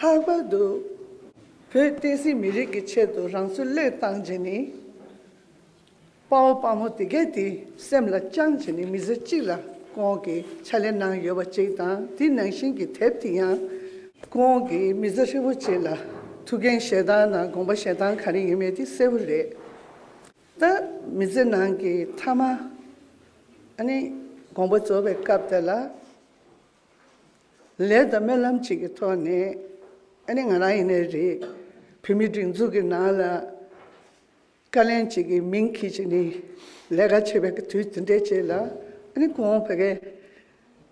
ལྷག་པར་དུ། བོད་བསྟན་སྲིད་མི་རིགས་ཀྱི་ཆེད་དུ་རང་ཚུར་བློས་བཏང་བྱས་ནས། དཔའ་བོ་དཔའ་མོ་དེ་གས་དེ་སེམས་ལ་བཅངས་བྱས་ནས་མི་ཚེ་གཅིག་ལ་ཁོང་གིས་ཕྱག་ལས་གནང་ཡོད་པ་ཅིག་དང་དེ་ནང་བཞིན་གྱི་དེབ་དེ་ཡང། ཁོང་གིས་མི་ཚེ་ཧྲིལ་བོ་ཅིག་ལ་ཐུགས་འགན་བཞེས་སྟངས་དང་དགོངས་པ་བཞེས་སྟངས་ག་རེ་ཡིན་མེད་དེ་གསལ་བོ་རེད། ད་མི་ཚེ་ནང་གི་མཐའ་མ། ཨ་ནི་དགོངས་པ་རྫོགས་པའི་སྐབས་དེ་ལ། ལས་དང་སྨོན་ལམ་གཅིག་གི་ཐོག་ནས། ཨ་ནི་ང་རང་ཡིན་ནའི་རེད། བོད་མིའི་སྒྲིག་འཛུགས་ཀྱི་ནང་ལ། བཀའ་ལན་གཅིག་གི་མིང་གིས་ཀྱི་ནི། ལས་ཀ་བྱེད་པའི་དུས་དེ་འདྲའི་རྗེས་ལ། ཨ་ནི་གོང་བོད་སྐད།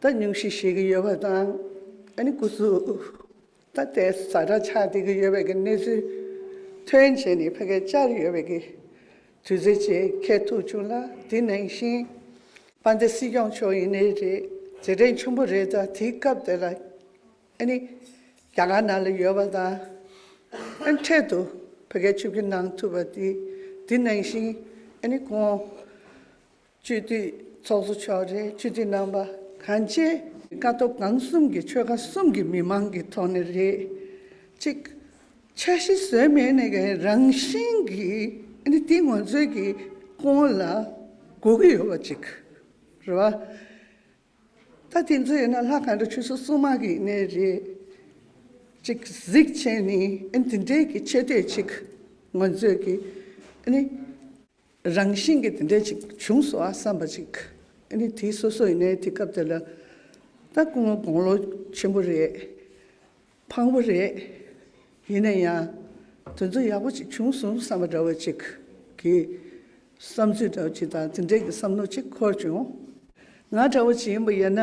ད་ཉུང་ཤས་ཤེས་ཀྱི་ཡོད་པ་དང། ཨ་ནི་སྐུ་གཟུགས། ད་ལྟའི་བཟའ་ཟླ་ཆགས་བསྡད་ཀྱི་ཡོད་པའི་གི་གནས་ཚུལ་ཐོན་རྗེས་ནས་ཕ་གི་བཅར་ཡོད་པའི་གི་དུས་ཚོད་ཅིག་འཁེལ་ཐུབ་བྱུང་ལ་དེ་ནང་བཞིན་པ་འདི་སྲིད་སྐྱོང་མཆོག་ཡིན་ནི་རེད་རྗེས་དྲན་ཆུང་པོ་རེད་ད་དེའི་སྐབས་དེ་ལ་ཨ་ནི་རྒྱ་གར་ནང་ལ་ཡོད་པ་དང་ཨ་འཕྲད་དུ་ཕ་གི་ཆུ་བཞི་ནང་ཐུབ་པ་དེ་དེ་ནང་བཞིན་ཨ་ནི་ཁོང་སྤྱོད་བསྡུས་ཚོགས་གཙོ་མཆོག་རེད་སྤྱོད་བསྡུས་རྣམ་པ་གང་ཅི། ཀ་ཐོག་གང་གསུམ་གྱི་ཆོལ་ཁ་གསུམ་གྱི་མི་མང་གི་ཐོག་ནས་རེད། གཅིག། འཆར་གཞི་བཟོས་མེད་ནས་ཀྱང་རང་བཞིན་གྱི་ཨནི་དེ་ངོ་ཚོས་ཀྱི་ཀོང་ལ་གོ་གི་ཡོད་པ་གཅིག་རེད་བ། ད་དེ་ཚོ་ཡིན་ན་ལྷ་གང་འདྲ་ཆུ་སོ་སོ་མང་གི་ཡིན་ནའི་རེད། གཅིག་གཟིགས་ཆེན་ནི་ཨནི་དེ་འདྲའི་གི་ཆེ་བསྟོད་ཅིག་ངོ་ཚོས་ཀྱི་ཨནི། རང་བཞིན་གྱིས་དེ་འདྲ་ཅིག་བྱུང་སོང་ཨ་བསམ་པ་ཅིག་ཨ་ནི་དེ་སོ་སོ་ཡིན་ནའི་དེ་སྐབས་དེ་ལ་ད་སྐུ་ངོ་དགོང་ལོ་ཆེན་པོ་རེད། ཕངས་པོ་རེད། ཡིན་ན་ཡང་དེ་ཚོ་ཡག་པོ་ཅིག་བྱུང་སོང་བསམ་པ་འདྲ་བོ་ཅིག་གི་བསམ་ཚུལ་འདྲ་བོ་ཅིག་དང་དེ་འདྲའི་གི་བསམ་མནོ་ཅིག་འཁོར་བྱུང། ང་འདྲ་བོ་ཅིག་ཡིན་པ་ཡིན་ན།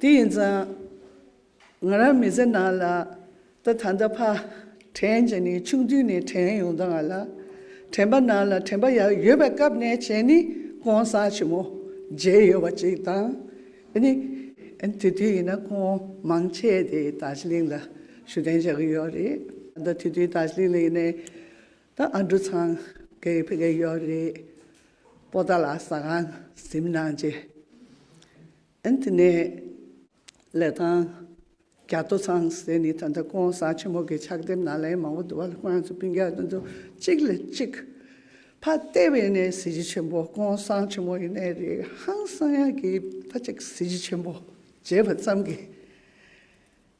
དེ་ཡིན་ཙང། ང་རང་མི་ཚེ་ནང་ལ་ད་ད་འདའ་ཕག་དྲན་བྱས་ནས་ཆུང་དུས་ནས་དྲན་ཡོང་དང་ལ་དྲན་པ་ནང་ལ་དྲན་པ་ཡག་ཡོད་པའི་སྐབས་ནས་བྱས་ནས་གོང་ས་ཆེན་མོ་མཇལ་ཡོད་པ་ཅིག་དང། ནི། དེ་དུས་ཡིན་ན་ཁོང་མང་ཆེ་དེ་དར་ཟི་ལིང་ལ་ཞུ་དན་བྱ་གི་ཡོད་རེད་ད་དེ་དུས་དར་ཟི་ལིང་ལ་ཡིན་ནའི་ད་ཨ་འབྲུ་ཚང་གི་ཕེ་གི་ཡོད་རེད་པོ་ད་ལ་ཟ་ཁང་གཟིམ་ནང་བྱས། ཨན་ཐི་ནེ། ལེ་ཐང། རྒྱ་ཐོ་ཚང་ཟེར་ནི་ད་ལྟ་ཀོང་ས་ཆེན་མོ་གི་ཕྱག་དེབ་ནང་ལན་མང་བོ་འདུག་བ་ལ་ཁོང་རང་ཚོ་སྤུན་རྒྱག་དོན་དུ་གཅིག་ལས་གཅིག། ཕ་ལྟེ་བའི་ནས་གཟི་བརྗིད་ཆེན་པོ་ཀོང་ས་ཆེན་མོ་ཡི་ནས་རེད་ཧང་སང་ཡ་གི་ཕ་གཅིག་གཟི་བརྗིད་ཆེན་པོ་བརྗེད་པ་ཙམ་གི།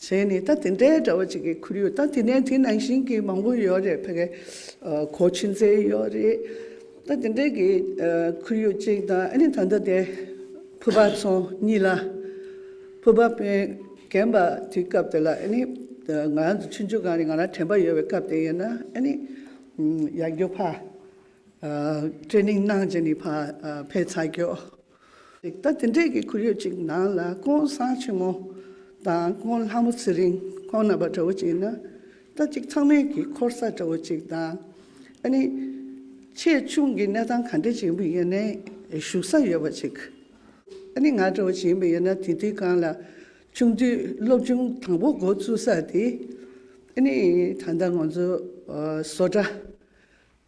བྱས་ནས་ད་དེ་འདྲའི་འདྲ་བ་ཅིག་གི་ཁུར་ཡོད་ད་དེ་ནས་དེ་ནང་བཞིན་གྱི་མང་པོ་ཡོད་རེད་ཕ་གི་གོ་ཕྱི་འཛེ་ཡོད་རེད་ད་དེ་འདྲའི་གི་ཁུར་ཡོད་ཅིག་ད་ཨ་ནི་ད་ལྟ་དེ་ཕུ་པ་ཚོ་གཉིས་ལ་ཕུ་པ་པན་རྒན་པ་དེའི་སྐབས་དེ་ལ་ཨ་ནི་ང་རང་ཚོ་ཆུང་ཆུང་གང་རེད་ང་རང་དྲན་པ་ཡོད་པའི་སྐབས་དེ་ཡིན་ན་ཨ་ནི་ཡར་རྒྱུག་ཕ་ཏྲེ་ནིང་གནང་བྱས་ནས་ཕ་ཕེ་ཚ་རྒྱུག། རིག་གདའ་དེ་འདྲས་ཀྱི་ཁོར་ཡུག་ཅིག་ནང་ལ་ཀོང་བཟང་ཆེན་མོ་དང་ཀོང་ལྷ་མོ་ཚེ་རིང་ཁོང་རྣམ་པ་འདྲ་བོ་ཅིག་ན་རྟ་གཅིག་ཚང་མེད་ཀྱི་འཁོར་ས་འདྲ་བོ་ཅིག་དང། ཨ་ནི། ཆེས་ཆུང་གི་གནས་སྟངས་ག་འདྲ་ཅིག་ཡིན་པ་ཡིན་ནའི་བཞུགས་ས་ཡོད་པ་ཅིག་ཨ་ནི་ང་འདྲ་བོ་ཅིག་ཡིན་པ་ཡིན་ན་དེ་དུས་གང་ལ་ཆུང་དུས་སློབ་ཆུང་དང་པོ་འགོ་བཙུགས་ས་དེ་ཨ་ནི་ད་ལྟ་ང་ཚོ་བཟོ་གྲྭ།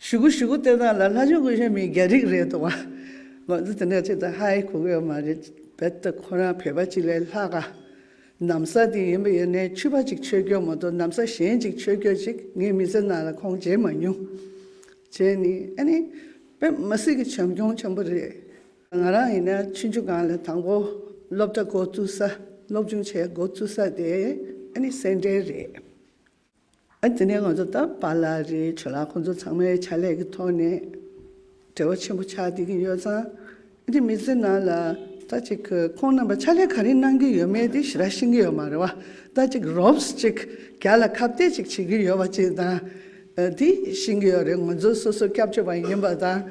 ཞུ་གུ་ཞུ་གུ་ལྟོས་དང་ལ་ལྷ་ཞུ་གུ་གཞན་མིན་རྒྱ་རིགས་རེད་འདུག་བ། ང་ཚོ་དེ་འདྲ་ཅིག་དང་ཧ་ཧེ་གོ་གི་མ་རེད། རྦད་དེ་ཁོ་རང་བོད་པ་གཅིག་ལས་ལྷག་ག། གནམ་ས་འདི་ཡིན་པ་ཡིན་ནའི་ཆུ་པ་གཅིག་ཆོས་སྐྱོ་མ་གཏོགས་གནམ་ས་གཞན་གཅིག་ཆོས་སྐྱོ་ཅིག་ངའི་མི་ཚེ་ནང་ལ་ཁོང་མཇལ་མ་མྱོང། གཞན་ནི་ཨ་ནི། པད་མ་སྲིད་ཀྱི་བྱམས་སྐྱོང་ཆེན་པོ་རེད། ང་རང་ཡིན་ན་ཆུ་མཇུག་སྒང་ལ་དང་པོ་སློབ་གྲྭ་འགོ་བཙུགས་ས་སློབ་ཆུང་བྱས་འགོ་བཙུགས་ས་དེ་ཨ་ནི་སེ་འབྲས་རེད། དེ་ནས་ང་ཚོ་ད་བར་ལ་རེའི་ཆོས་ལ་ཁོང་ཚོ་ཚང་མའི་ཕྱག་ལས་ཀྱི་ཐོག་ནས་བྲེལ་བ་ཆེན་པོ་ཆགས་བསྡད་ཀྱིན་ཡོད་ཙང། འདི་མི་ཚེ་ནང་ལ་ད་ཅིག་ཁོང་རྣམ་པ་ཕྱག་ལས་ག་རེ་གནང་གིན་ཡོད་མེད་དེ་ཞི་རགས་ཤེས་ཀྱི་ཡོད་མ་རེད་བ། ད་ཅིག་རོབས་ཅིག་རྒྱ་ལ་ཁ་བཏད་ཅིག་བྱེད་ཀྱིན་ཡོད་བ་ཅིག་དང། དེ་ཤེས་ཀྱི་ཡོད་རེད་ང་ཚོ་སོ་སོ་སྐྱབས་བཅོལ་བ་ཡིན་པ་དང་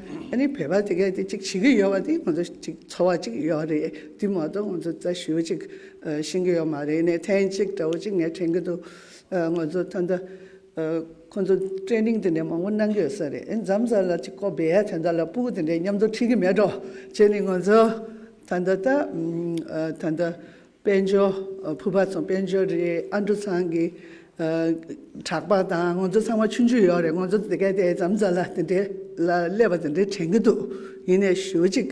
བོད་པ་དེ་གས་དེ་ཅིག་བྱེད་ཀྱིན་ཡོད་བ་དེ་ང་ཚོ་ཅིག་ཚོར་བ་ཅིག་ཡོད་རེད་དེ་མ་གཏོགས་ང་ཚོ་ད་ཞུ་ཅིག་ཤེས་ཀྱི་ཡོད་མ་རེད་ནས་ཐེངས་གཅིག་དགྲ་བོ་ཅིག་ངས་དྲན་གྱི་འདུག་ངོས་ཚོ་ད་ལྟ་ཁོང་ཚོ Training དེ་འདྲའི་མང་པོ་གནང་གི་ཡོད་ས་རེད་ཨེ་འཇམ་བཟའ་ལ་ཅིག་ཀོ་བེ་ཡ་དེ་འདྲ་ལ་པུའུ་དེ་འདྲའི་མཉམ་དུ་ཁྲིད་གི་མེད་འགྲོ་བྱས་ནས་ངོས་ཚོ་ད་ལྟ་ད་ད་ལྟ་དཔལ་འབྱོར་ཕུར་པ་ཚོ་དཔལ་འབྱོར་རེད་ཨ་འབྲུ་ཚང་གི་གྲགས་པ་དང་ངོས་ཚོ་ཚང་མ་ཆུང་ཆུང་ཡོད་རེད་ངོས་ཚོ་དེ་ག་དེ་འཇམ་བཟའ་ལ་དེ་འདྲའི་ལ་ཀླད་པ་དེ་འདྲའི་དྲན་གི་འདུག་ཡིན་ནས་ཞུ་ཅིག་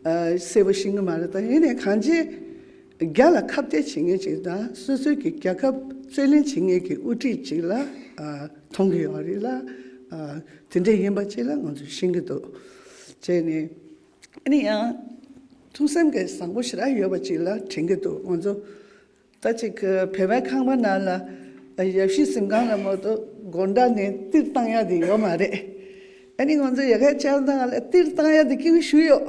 གསལ་པོ་ཤེས་གི་མ་རེད་ད་ཡིན་ནས་གང་ཅི། རྒྱ་ལ་ཁ་བརྡས་བྱེད་མཁན་ཅིག་དང་སོ་སོའི་གི་རྒྱལ་ཁབ་རྩོད་ལེན་བྱེད་མཁན་གི་དབུ་ཁྲིད་ཅིག་ལ་མཐོང་གི་ཡོད་རེད་ལ། དེ་འདྲ་ཡིན་པ་ཅིག་ལ་ང་ཚོས་ཤེས་ཀྱི་འདུག་བྱས་ནས་ཡིན་ཡང། ཐུགས་སེམས་ཀྱི་བཟང་པོ་ཞེ་དྲག་ཡོད་པ་ཅིག་ལ་དྲན་གྱི་འདུག་ང་ཚོ་ད་ཅིག་བལ་བའི་ཁང་པ་ནང་ལ་ཡབ་གཞིས་གཟིམ་ཁང་ལ་མོ་ཏོ་སྒོར་འདྲ་ནས་སྟིར་བཏང་ཡག་དེ་ཡོད་མ་རེད། ཨ་ནི་ང་ཚོ་ཡ་ག་ཅག་ནང་ལ་སྟིར་བཏང་ཡག་དེ་སྐྱིད་པོ་བཞུགས་ཡོད།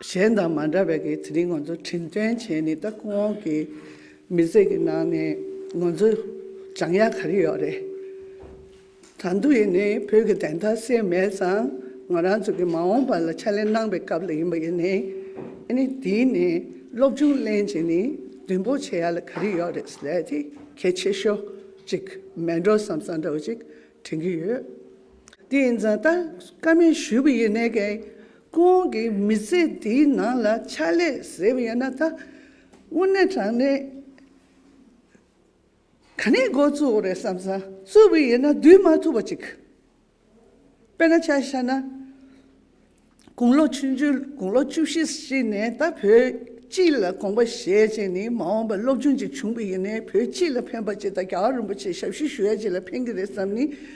གཞན་དང་མ་འདྲ་བའི་དེ་རིང་ང་ཚོ་དྲིན་དྲན་བྱེད་ནི་ད་ཁོང་གི་མི་ཚེ་གི་ནང་ནས་ང་ཚོ་བྱང་ཡ་ག་རེ་ཡོད་རེད། ད་འདུག་ཡིན་ནི་བོད་ཀྱི་བདེན་མཐའ་སེལ་མེད་ཙང་ང་རང་ཚོ་གི་མ་འོངས་པ་ལ་ཕྱག་ལས་གནང་བའི་སྐབས་ལ་ཡིན་པ་ཡིན་ནི་ཨ་ནི་དེ་ནས་སློབ་སྦྱོང་གླེང་བྱེད་ནི་བདུན་པོ་བྱེད་ཡ་ལ་ག་རེ་ཡོད་རེད་ཟེར་དེ་གལ་ཆེ་ཤོས་ཅིག་མེད་འགྲོ་བསམ་བསམ་འདྲ་བོ་ཅིག་དྲན་གྱི་ཡོད། དེ་ཡིན་ཙང་ད་ཀ་མེད་ཞུས་པ་ཡིན་ནི་གལ་ཁོང་གི་མི་ཚེ་འདིའི་ནང་ལ་ཕྱག་ལས་གཟེབ་ཡོད་ན་ད་དབུ་ནས་དྲངས་ནས་ག་ནས་མགོ་བཙུགས་རེད་བསམ་བསམ་བཙུགས་པའི་ཡིན་ན་བསྡུས་མ་ཐུབ་པ་ཅིག་དཔེར་ན་ཆ་བཞག་ན་དགུང་ལོ་ཆུང་ཆུང་དགུང་ལོ་བཅུ་བཞི་ཞིག་ནས་ད་བོད་སྤྱི་ལ་དགོངས་པ་བཞེས་རྗེས་ནས་མ་འོངས་པར་སློབ་ཆུང་ཅིག་བྱུང་པའི་ཡིན་ནའི་བོད་སྤྱི་ལ་ཕན་པ་ཅིག་ད་རྒྱ་གར་རིན་པོ་ཆེ་ཞབས་ཞུ་ཞུ་ཡ་ཅིག་ལ་ཕན་གི་རེད་བསམ་ནས་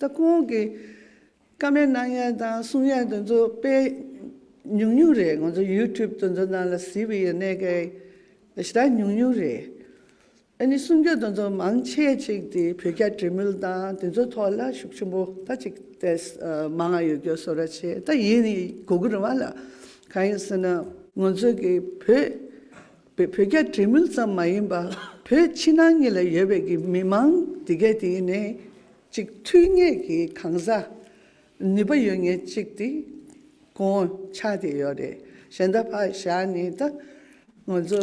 ད་ཁོང་གི་ཀ་མད་སྣང་ཡན་དང་གསུང་ཡན་དེ་ཚོ་དཔེ་ཉུང་ཉུང་རེད་ང་ཚོ་ཡུའུ་ཐུབ་དེ་ཚོ་ནང་ལ་གཟིགས་པའི་ཡོད་གནས་ཀའི་གཞི་བདག་ཉུང་ཉུང་རེད་ཨ་ནི་གསུང་རྒྱུ་དེ་ཚོ་མང་ཆེ་ཅིག་དེ་བོད་རྒྱ་འབྲེལ་མོལ་དང་དེ་ཚོ་ཐོག་ལ་ཤུགས་ཆེན་པོ་ད་ཅིག་ཏེ་མ་ང་ཡོད་རྒྱུ་བཟོ་ར་བྱེད་ད་ཡིན་གོ་གི་རུང་བ་ལ་གང་ཡིན་ཟེར་ན། ང་ཚོ་གི་བོད། བོད་རྒྱ་འབྲེལ་མོལ་ཙམ་མ་ཡིན་པར་བོད་ཕྱི་ནང་གཉིས་ལ་ཡོད་པའི་གི་མི་མང་འདི་གས་དེ་ཡིན་ནས་ཅིག་ཐུགས་ངེས་ཀྱི་གང་ཟག་ནུས་པ་ཡོད་ངེས་ཅིག་དེ་དགོངས་འཆར་དེ་ཡོད་རེད་གཞན་ད་བར་བཞག་ནི་ད་ང་ཚོ་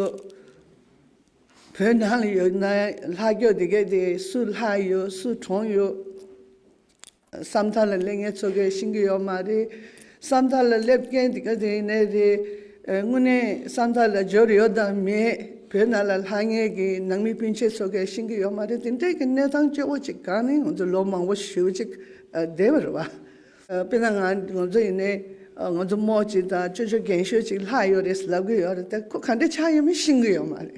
བོད་ནང་ལ་ཡོད་ན་ལྷ་སྐྱོ་དེ་གས་དེ་སུ་ལྷ་ཡོད་སུ་གྲོང་ཡོད། ས་མཐའ་ལ་སླེབས་མཁན་ཚོ་གས་ཤིང་གི་ཡོད་མ་རེད། ས་མཐའ་ལ་སླེབས་མཁན་དེ་ག་དེ་ནས་རེད། དངོས་གནས་ས་མཐའ་ལ་འབྱོར་ཡོད་དང་མེད་བོད་ནང་ལ་ལྷ་ངེས་ཀྱི་ནང་མི་སྤུན་མཆེད་ཚོ་གས་ཤིང་གི་ཡོད་མ་རེད་དེ་འདྲས་ཀྱི་གནས་སྟངས་སྐྱོ་བོ་ཅིག་གང་ནས་ང་ཚོ་ལོ་མང་བོ་ཞུས་ཅིག་བསྡད་པ་རེད་བ། དཔེར་ན་ང་ང་ཚོ་ཡིན་ནའི་ང་ཚོ་མོ་ཅིག་དང་ཅོ་ཅོ་རྒན་ཤོས་ཅིག་ལྷག་ཡོད་རེད་ཟེར་ལབ་གི་ཡོད་རེད་ད་ཁོ་ག་འདྲས་ཆགས་ཡོད་མེད་ཤིང་གི་ཡོད་མ་རེད།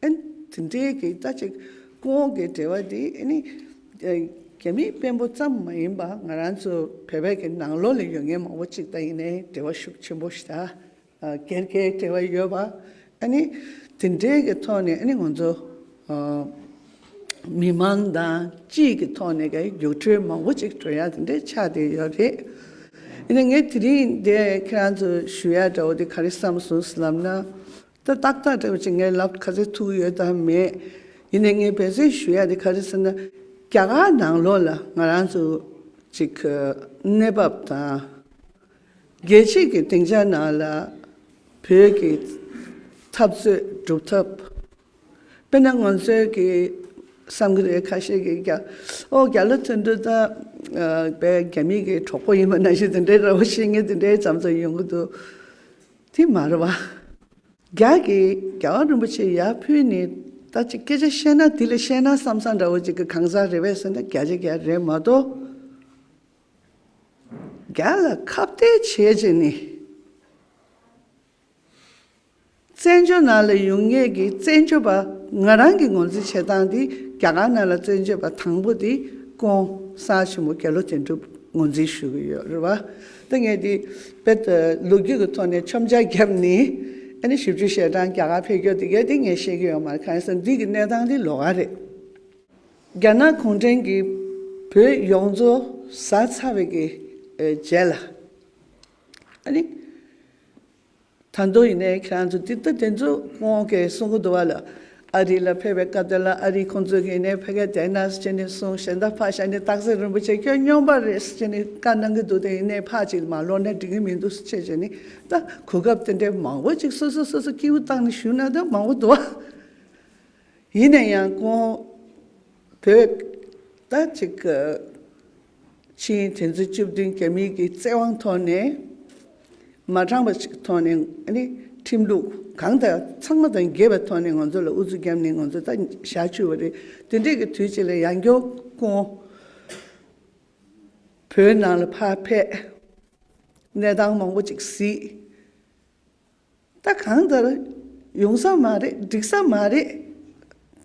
ཨན། དེ་འདྲའི་གེགས་རྩ་གཅིག་ཀུན་འོང་གི་འབྲེལ་བ་འདི་ཨེ་ནི། རྒྱ་མིའི་དཔོན་པོ་ཙམ་མ་ཡིན་པར་ང་རང་ཚོ་བོད་པའི་གི་ནང་ལོགས་ལས་ཡོད་ངེས་མང་པོ་གཅིག་དང་ཡིན་ནའི་འབྲེལ་བ་ཤུགས་ཆེན་པོ་ཞིག་དང་གེར་གེའི་འབྲེལ་བ་ཡོད་པ་ཨེ་ནི། དེ་འདྲའི་གི་ཐོག་ནས་ཨེ་ནི་ང་ཚོ་མི་མང་དང་སྤྱིའི་གི་ཐོག་ནས་གི་རྒྱུགས་སྤྲོད་མང་པོ་གཅིག་འགྲོ་ཡ་དེ་འདྲའི་ཆགས་བསྡད་ཡོད་རེད། ཨེ་ནི་ངས་དེ་རིང་འདི་ཁྱེད་རང་ཚོ་ཞུ་ཡ་འདྲ་བོ་འདི་ག་རེ་བསམ་སོང་ཟེར་ལབ་ན། ད་ཏག་ཏག་བཀྲ་ཤིས་ངའི་ལབ་ག་རེ་ཐུག་ཡོད་དམ་མེད། ཡིན་ནའི་ངས་འབད་བརྩོན་ཞུ་ཡ་དེ་ག་རེ་ཟེར་ན། རྒྱ་གར་ནང་ལོགས་ལ་ང་རང་ཚོ་གཅིག་གི་གནས་བབ་དང། རྒྱལ་སྤྱིས་ཀྱི་སྡིངས་ཆ་ནང་ལ་བོད་ཀྱི་འཐབ་རྩོད་སྒྲུབ་ཐབས། དཔེར་ན་ང་ཚོའི་གི་བསམ་གི་རེད་ཁ་ཤས་ཀྱིས་རྒྱ་ཨོ་རྒྱ་ལ་ཐོན་དུས་ད་རྒྱ་མིས་ཀྱི་གྲོགས་པོ་ཡིན་པ་ན་གཞི་དེ་འདྲའི་ར་བ་བྱེད་ངེས་དེ་འདྲའི་ཙམ་ཙམ་ཡོང་གི་འདུག། ཐིག་མར་བ། རྒྱ་གི་རྒྱལ་བ་རིན་པོ་ཆེ་ཡར་ཕུལ་ནས་ད་ཅིག་སྐད་ཆ་བཤད་ན་དེ་ལས་བཤད་ན་བསམ་བསམ་འདྲ་བོ་ཅིག་གི་གང་ཟག་རེད་བས་ཟེར་ན་རྒྱ་ཆ་རྒྱ་རེད་མ་གཏོགས། རྒྱ་ལ་ཁ་བརྡའི་བྱས་རྗེས་ནི། བཙན་བྱོལ་ནང་ལ་ཡོང་ངེས་ཀྱི་བཙན་བྱོལ་བ་ང་རང་གི་ངོ་འཛིན་བྱེད་སྟངས་དེ་རྒྱ་གར་ནང་ལ་བཙན་བྱོལ་བ་དང་པོ་དེ་ཀོང་ས་ཆེན་མོ་རྒྱལ་ལོ་དོན་གྲུབ་ངོ་འཛིན་ཞུ་གི་ཡོད་རེད་བ། ལྟ་ངན་འདི་དཔེར་ཏུ་ལོ་རྒྱུས་ཀྱི་ཐོག་ནས་ཆོམ་ཆ་བརྒྱབ་ནས་ཨ་ནི་ཞིབ་འཇུག་བྱས་གྲང་རྒྱ་གར་ཕེབས་རྒྱུ་དེ་གལ་ཏེ་ངས་ཤེས་ཀྱི་ཡོད་མ་གང་ཟེར་འདི་གི་གནས་སྟངས་འདི་ལོག་ག་རེད། རྒྱ་ནག་གུང་ཁྲན་གྱིས་བོད་ཡོངས་རྫོ་ཟ་ཚར་བའི་རྗེས་ལ་ཨ་ནི། ད་དུང་ཡིན་ནའི་ཁྱེད་རང་ཚོ་དེ་ལྟ་དེ་ཚོ་ཁོང་གིས་གསུང་གི་འདུག་བ་ལ། ཨ་རི་ལ་ཕེབས་པའི་སྐབས་དེ་ལ་ཨ་རི་ཁོང་ཚོས་ཡིན་ནའི་ཕ་ག་དེ་ན་ཅི་ནས་གསུང་ཞེ་ད་ཕ་ཞ་ནས་སྟག་གཟིག་རིན་པོ་ཆེ་ཁྱོད་སྨྱོན་པ་རེད་ཅི་ནས་བཀའ་གནང་གི་འདུག་དེ་ཡིན་ནའི་ཕ་ཅིག་མ་ལོག་ན་འགྲིག་གི་མི་འདུག་ཅེས་བྱས་ནས་ད་གོ་སྐབས་དེ་འདྲའི་མང་བོ་ཅིག་སོ་སོས་སོ་སོ་སྐྱེས་བུ་བཏང་ནས་ཞུས་ན་ད་མང་བོ་འདུག་བ། ཡིན་ནའི་ཡང་ཁོང་བོད་ད་ཅིག་གི། ཕྱིན་དེ་ཚོ་བཅུ་བདུན་རྒྱ་མི་གི་བཙན་དབང་ཐོག་ནས་མ་དྲངས་པ་ཞིག་ཐོག་ནས་ཁྲིམས་ལུགས་གང་དང་ཚང་མ་དང་འགལ་བའི་ཐོག་ནས་ང་ཚོ་ལ་ཨུ་ཚུགས་རྒྱབ་ནས་ང་ཚོ་ད་ཞག་ཆུད་བ་རེད་དེ་འདྲས་ཀི་དུས་ཅིག་ལ་ཡང་སྐྱོ་ཀུན་བོད་ནང་ལ་ཕ་ཕས་གནས་སྟངས་མང་པོ་ཅིག་གཟིགས། ད་གང་ལྟར་ཡོང་ས་མ་རེད་འགྲིག་ས་མ་རེད།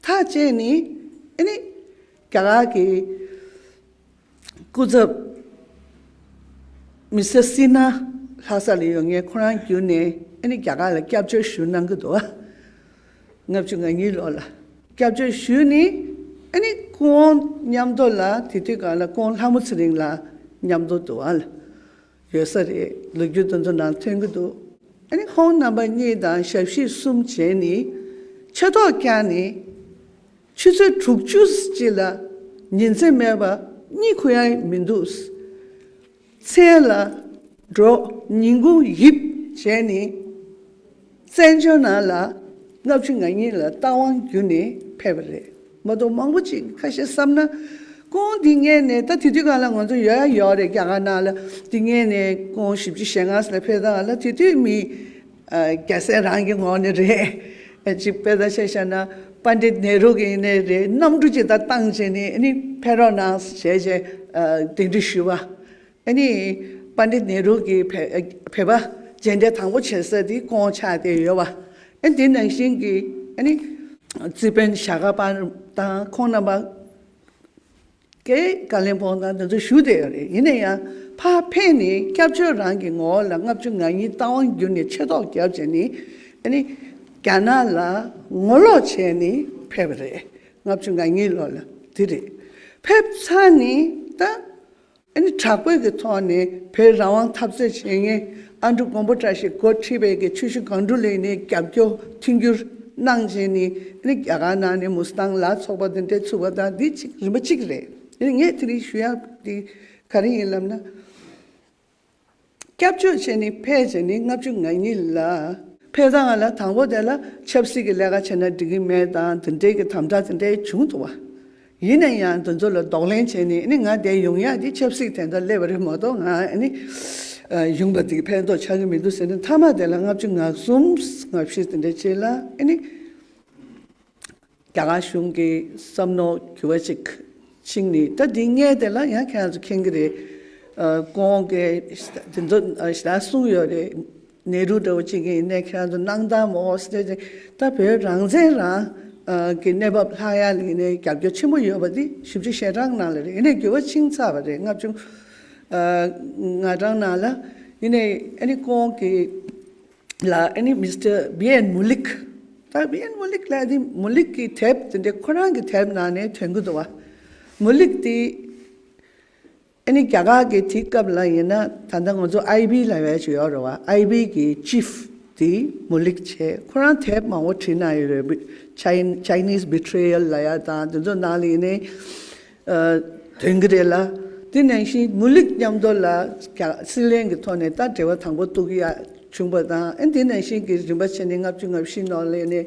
ཐག་བཅད་ནས་ཨེ་ནི། རྒྱ་གར་གྱི་སྐུ་ཚབ་མི་སེར་སི་ནཱ་ལྷ་ས་ལ་ཡོད་ངེས་ཁོ་རང་བརྒྱུད་ནས་ཨེ་ནི་རྒྱ་གར་ལ་སྐྱབས་བཅོལ་ཞུ་གནང་གི་འདུག་ཨ། ལྔ་བཅུ་ང་གཉིས་ལོར་ལ་སྐྱབས་བཅོལ་ཞུས་ནས་ཨེ་ནི་སྐུ་འོང་མཉམ་འདུག་ལ་དེ་དུས་གང་ལ་སྐུ་འོང་ལྷ་མོ་ཚེ་རིང་ལ་མཉམ་འདུག་འདུག་ཨ། ཡོད་ས་རེད་ལོ་རྒྱུས་དེ་ཚོ་ནང་ཐོན་གྱི་འདུག། ཨ་ནི་ཁོང་རྣམ་པ་གཉིས་དང་ཞབས་ཕྱི་གསུམ་བྱས་ནི། ཆེ་མདོག་བསྐྱངས་ནི། ཆུ་ཚོད་དྲུག་བཅུ་གཅིག་ལ་ཉིན་མཚན་སྨྲས་པ་གཉིད་ཁུག་ཡ་ཡི་མི་འདུག། མཚན་ལ། འགྲོ། ཉིན་གུང་ཡིབ་བྱས་ནི། བཙན་བྱོལ་ནང་ལ་ལྔ་བཅུ་ང་གཉིས་ལ་རྟ་དབང་བརྒྱུད་ནས་ཕེབས་པ་རེད་མ་གཏོགས་མང་པོ་ཅིག་ཁ་ཤས་བསམ་ན། ཀོང་དེ་སྔས་ནས་ད་དེ་དུས་གང་ལ་ང་ཚོ་ཡོད་ཡ་ཡོད་རེད་རྒྱ་གར་ནང་ལ་དེ་སྔས་ནས་ཀོང་བཞི་བཅུ་ཞེ་ལྔ་ལ་ཕེབས་སྟངས་ལ་དེ་དུས་མི་རྒྱ་སེ་རང་གི་ངོ་ནས་རེད། གཅིག་དཔེ་ལྟ་བྱས་བྱས་ན Pandit Nehru གི་ནས་རེད་གནམ་གྲུ་ཅིག་ད་བཏང་བྱས་ནས་ཨ་ནི་ཕེ་རོག་ནང་བྱས་བྱས་དེ་འདྲི་ཞུས་པ་ཨ་ནི། པ་འདི་ནེ་རུ་གི་བོད་པ་རྗེས་འབྲེལ་དང་པོ་བྱེད་ས་དེ་ཀོང་ཆ་དེ་ཡོད་བ། ཨ་ནི་དེ་ནང་བཞིན་གྱི་ཨ་ནི། ཙི་པན་ཞྭ་དགའ་པ་དང་ཁོང་རྣམ་པ། ཀྱེ་ཀ་ལིན་ཕོང་དང་དེ་ཚོ་བཞུགས་བསྡད་ཡོད་རེད་ཡིན་ན་ཡང་ཕ་ཕས་ནི་སྐྱབས་བཅོལ་རང་གི་ངོ་བོ་ལ་ལྔ་བཅུ་ང་གཉིས་རྟ་དབང་བསྒྱུར་ནས་ཆེ་ཐོག་བརྒྱབ་བྱས་ནི་ཨ་ནི། རྒྱ་ནག་ལ་ངོ་ལོག་བྱས་ནི་ཕེབས་པ་རེད་ལྔ་བཅུ་ང་གཉིས་ལོར་ལ་དེ་རེད་ཕེབས་ཚར་ནི་ད། ཨ་ནི་དྲག་པོའི་གི་ཐོག་ནས་བོད་རང་དབང་འཐབ་རྩོད་བྱེད་མཁན་ཨ་འབྲུག་མགོན་པོ་བཀྲ་ཤིས་འགོ་ཁྲིད་པའི་གི་ཆུ་ཤུ་གང་འབྲུག་ལས་ནས་རྒྱབ་སྐྱོར་མཐུན་འགྱུར་གནང་བྱས་ནས་ཨ་ནི་རྒྱ་གར་ནང་ནས་མུ་སྟང་ལ་ཚོགས་པ་འདི་འདྲས་ཚུགས་པ་དང་འདི་གཅིག་རིམ་པ་གཅིག་རེད། ཨ་ནི་ངས་དེ་རིང་ཞུ་ཡག་དེ་ག་རེ་ཡིན་ལབ་ན། སྐྱབས་བཅོལ་བྱས་ནི་ཕལ་ཆེར་ནི་ལྔ་བཅུ་ང་གཉིས་ལ། ཕལ་ཐང་ང་ལ་དང་པོ་དེ་ལ་ཆབ་སྲིད་ཀྱི་ལས་ཀ་བྱས་ན་འགྲིག་གི་མེད་དང་འདི་འདྲའི་གི་དམ་དྲག་དེ་འདྲའི་བྱུང་ཐུབ་བ། ཡིན་ན་ཡང་འདི་ཚོ་ལ་ལྡོག་ལན་བྱས་ནས་ནི་ང་བསྡད་ཡོང་ཡག་གི་ཆབ་སྲིད་དེ་འདྲ་སླེབས་པ་རེད་མ་གཏོགས་ང་ནི། གཞུང་པ་དེ་ཕན་ཐོགས་ཆགས་གི་མི་འདུག་ཟེར་ནི་མཐའ་མ་དེ་ལ་ལྔ་བཅུ་ང་གསུམ་ང་བཞི་དེ་འདྲ་བྱས་ལ་ནི། རྒྱ་གར་གཞུང་གི་བསམ་མནོ་གྱུར་པ་ཅིག་ཅིག་ནི་ད་དེ་སྔའི་དེ་ལ་ཡང་ཁྱེད་རང་ཚོ་མཁྱེན་གྱི་རེད། གོང་གི་དེ་ཚོ་ཞེ་དྲག་གསུངས་ཡོད་རེད། ནེ་རུ་འདྲ་བོ་ཅིག་ཡིན་ནས་ཁྱེད་རང་ཚོ་གནང་སྟངས་མོ་ཨོ་སི་ཏྲེ་ལ་བོད་རང་བཙན་རང་གི་གནས་བབ་ལྷག་ཡ་ལ་ཡིན་ནས་རྒྱབ་སྐྱོར་ཆེན་པོ་ཡོད་པ་དེ་ཞིབ་ཕྲ་ཞེ་དྲག་གནང་ལ་རེད་ཡིན་ནས་འགྱུར་བ་ཕྱིན་ཚར་བ་རེད་ལྔ་བཅུ་ང་གྲངས་གནང་ལ་ཡིན་ནས་ཨ་ནི་གོང་གི་ལ་ཨ་ནི་མི་སི་ཏར་བྷི་ཨེན་མུ་ལིག། སྟར་བྷི་ཨེན་མུ་ལིག་ལ་ཨ་ནི་མུ་ལིག་གི་དེབ་དེ་འདྲའི་ཁོ་རང་གི་དེབ་ནང་ནས་དོན་གུ་དོ། མུ་ལིག་དེ་ཨ་ནི་རྒྱ་གར་གི་དེའི་སྐབས་ལ་ཡིན་ན་ད་ལྟ་ང་ཚོ་ཨའི་བྷི་ལ་བས་ཀྱི་ཡོད་རེད་བ་ཨའི་བྷི་གི་ཅིབ་དེ་མུ་ལིག་ཆེ་ཁོ་རང་དེབ་མང་བོ་བྲིས་གནང་ཡོད་རེད་བྷི། Chinese Betrayal ལ་ཡ་དང་དེ་ཚོ་ནང་ལ་ཡིན་ནའི། དོན་གྱི་རེད་ལ། དེ་ནང་བཞིན་མུ་ལིག་མཉམ་དོར་ལ་ཀྱང་སྲིད་གླེང་གི་ཐོག་ནས་ད་འབྲེལ་བ་དང་པོ་གཏུག་ཡ་བྱུང་པ་དང་དེ་ནང་བཞིན་གྱི་རིན་པ་ཆེ་ནི་ལྔ་བཅུ་ལྔ་བཞི་ནོར་ལེ་ནི་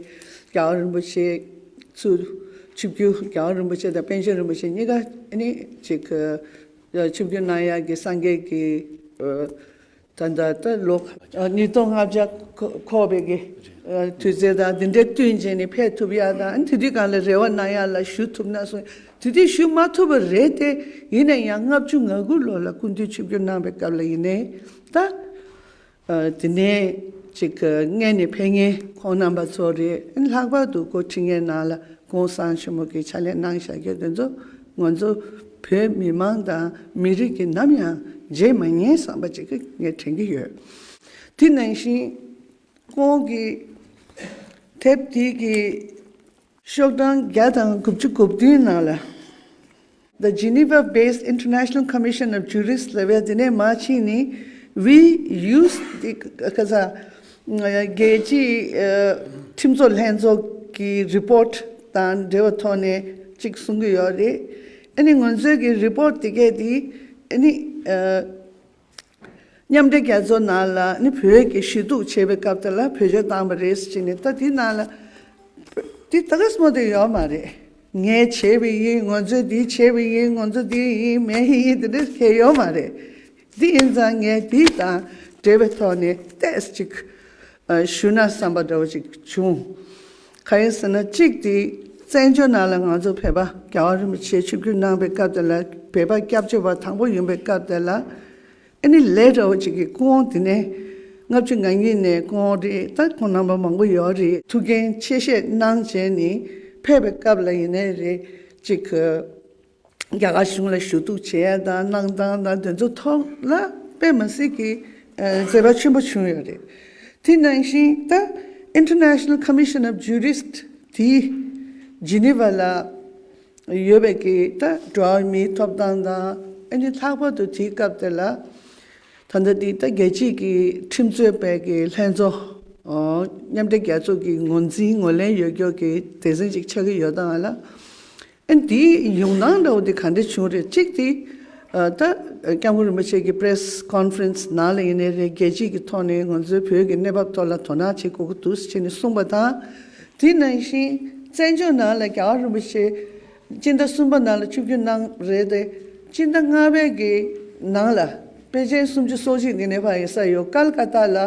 རྒྱལ་བ་རིན་པོ་ཆེ་ཚུལ་ཆུ་བརྒྱུད་རྒྱལ་བ་རིན་པོ་ཆེ་དང་པཎ་ཆེན་རིན་པོ་ཆེ་གཉིས་ཀ་ནི་གཅིག་གི། ཆུ་བརྒྱུད་སྣང་ཡར་གྱི་སངས་རྒྱས་ཀྱི། ད་ལྟ་ད་ལོ་ཉིས་སྟོང་ལྔ་བརྒྱ་འཁོར་བའི་གི་དུས་ཚེ་དང་དེ་འདྲའི་བསྟུན་བྱས་ནས་ཕེབས་ཐུབ་ཡ་དང་དེ་དུས་གང་ལ་རེ་བ་གནང་ཡ་ལ་ཞུ་ཐུབ་ན་སོང་དེ་དུས་ཞུ་མ་ཐུབ་པ་རེད་དེ་ཡིན་ན་ཡང་ལྔ་བཅུ་ང་དགུ་ལོ་ལ་སྐུ་མདུན་ཆིབས་བསྒྱུར་གནང་བའི་སྐབས་ལ་ཡིན་ནས་ད། དེ་ནས་ཅིག་མངལ་ནས་ཕེབས་ཉིན་ཁོང་རྣམ་པ་ཚོ་རེད་ལྷག་པར་དུ་སྐུ་ཕྲེང་ངའི་ནང་ལ་ཀུན་བཟང་ཆེན་མོ་གི་ཕྱག་ལས་གནང་བཞག་རྒྱུ་དེ་ཚོ་ང་ཚོ་བོད་མི་མང་དང་མི་རིགས་ཀྱིས་ནམ་ཡང་བརྗེད་མ་ཉན་བསམ་པ་ཅིག་ངས་དྲན་གྱི་ཡོད། དེ་ནང་བཞིན། ཁོང་གིས། དེབ་དེ་གི། ཤོག་གྲངས་བརྒྱ་དང་དགུ་བཅུ་དགུ་བདུན་ནང་ལ། The Geneva Based International Commission of Jurists ལ་བས་དེ་ནས་མ་ཕྱིན་ནས་བྷི་ཡུས་ཏི་ཀ་ཚ། རྒྱལ་སྤྱིའི་ཁྲིམས་བཟོ་ལྷན་ཚོགས་ཀྱི་རི་པོརྟ་དང་འབྲེལ་བའི་ཐོག་ནས་གཅིག་གསུང་གི་ཡོད་རེད། ཨ་ནི་ངོས་ཚོས་ཀྱི་རི་པོརྟ་དེ་གས་དེ་ཨ་ནི། མཉམ་འབྲེལ་རྒྱལ་ཚོགས་ནང་ལ་ཨ་ནི་བོད་ཀྱི་ཞི་གཏུག་བྱེད་པའི་སྐབས་དེ་ལ་བོད་ཆས་བཏང་བ་རེད་ཅེས་ནས་ད་དེ་ནང་ལ། དེ་ད་ག་སོ་མོ་དེ་ཡོད་མ་རེད། ངས་བྱས་པའི་ཡིན་ངོས་ཚོས་དེ་བྱས་པའི་ཡིན་ངོས་ཚོས་དེ་ཡིན་མེད་ཡིན་དེ་འདྲ་ཁྱད་ཡོད་མ་རེད། འདི་ཡིན་ཙང་ངས་འདི་དང་འབྲེལ་བའི་ཐོག་ནས་ཏེས་གཅིག་ཞུས་ན་བསམ་པ་འདྲ་བོ་ཅིག་བྱུང། ག་རེ་ཟེར་ན་གཅིག་དེ་བཙན་བྱོལ་ནང་ལ་ང་ཚོ་བོད་པ་རྒྱ་བ་རིན་པོ་ཆེ་ཆིབས་བསྒྱུར་གནང་པའི་སྐབས་དེ་ལ་བོད་པ་སྐྱབས་བཅོལ་བ་དང་པོ་ཡིན་པའི་སྐབས་དེ་ལ་ཨེ་ནི་ལེ་འདྲ་བོ་ཅིག་གི་སྐུ་འོང་དེ་ནས་ལྔ་བཅུ་ང་གཉིས་ནས་སྐུ་འོང་རེད་ད་ཁོང་རྣམ་པ་མང་པོ་ཡོད་རེད། ཐུགས་འགན་ཆེ་བཞེས་གནང་བྱས་ནས་ཕེབས་པའི་སྐབས་ལ་ཡིན་ནའི་རེད་ཅིག། རྒྱ་གར་གཞུང་ལ་ཞུ་གཏུག་བྱེད་ཡ་དང་གནང་སྟངས་དང་དེ་ཚོ་ཐོག་ལ་པད་མ་སི་ཀི་མཛད་པ་ཆེན་པོ་བྱུང་ཡོད་རེད། དེ་ནང་བཞིན་ད International Commission of Jurist དེ Geneva ལ་ཡོད་པའི་གི་ད་འགྲོ་བ་མིའི་ཐོབ་ཐང་དང་ཨ་ནི་ལྷག་པར་དུ་དེའི་སྐབས་དེ་ལ་ད་ལྟ་དེ་ད་རྒྱལ་སྤྱིའི་གི་ཁྲིམས་རྩོད་པའི་གི་ལྷན་ཚོ་མཉམ་འབྲེལ་རྒྱལ་ཚོགས་གི་ངོ་འཛིན་ངོ་ལེན་ཡོད་སྐྱོར་གི་དེ་ཟིན་ཅིག་ཆགས་གི་ཡོད་དང་ལ། ཨེ་འདི་ཡོང་སྟངས་འདྲ་བོ་འདི་ག་འདྲས་བྱུང་རེད་གཅིག་དེ་ད་སྐྱབས་མགོན་རིན་པོ་ཆེ་གི Press Conference ནང་ལ་ཡིན་ནའི་རེད་རྒྱལ་སྤྱི་གི་ཐོག་ནས་ང་ཚོའི་བོད་ཀྱི་གནས་བབ་ཐོག་ལ་དོ་སྣང་བྱེད་དགོས་ཀྱི་འདུག་ཅེས་ནས་གསུངས་པ་དང། དེ་ནང་བཞིན་བཙན་བྱོལ་ནང་ལ་རྒྱལ་བ་རིན་པོ་ཆེ་སྤྱི་ཟླ་གསུམ་པ་ནང་ལ་བཅུ་བརྒྱུད་གནང་རེད་དེ་སྤྱི་ཟླ་ལྔ་པའི་གི་ནང་ལ་དཔེ་ཆའི་སུམ་ཅུ་སོ་གཅིག་གི་གནས་བབ་ཡིན་ས་ཡོད་ཀལ་ཀ་ཏཱ་ལ